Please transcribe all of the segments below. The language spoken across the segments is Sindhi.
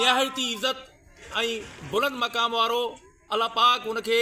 نهايت ئي عزت ۽ بلند مقام وارو الله پاڪ ان کي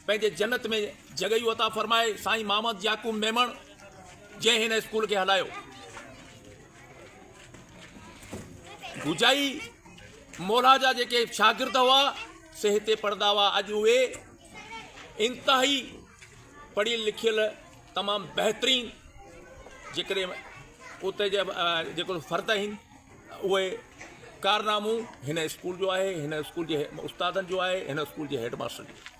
پنهنجي جنت ۾ جڳهيون عطا فرمائي سائين محمد يعقوب ميمڻ جنهن هن اسڪول کي هلايو گجائي مولا جا جيڪي شاگرد هئا سي هتي پڙهندا هئا اڄ اهي انتهائي پڙهيل لکيل تمام بهترين جيڪڏهن اتي جا جيڪو فرد آهن اهي ڪارنامون هن اسڪول جو آهي، هن اسڪول جي استادن جو آهي، هن اسڪول جي هيڊ ماستر جو آهي.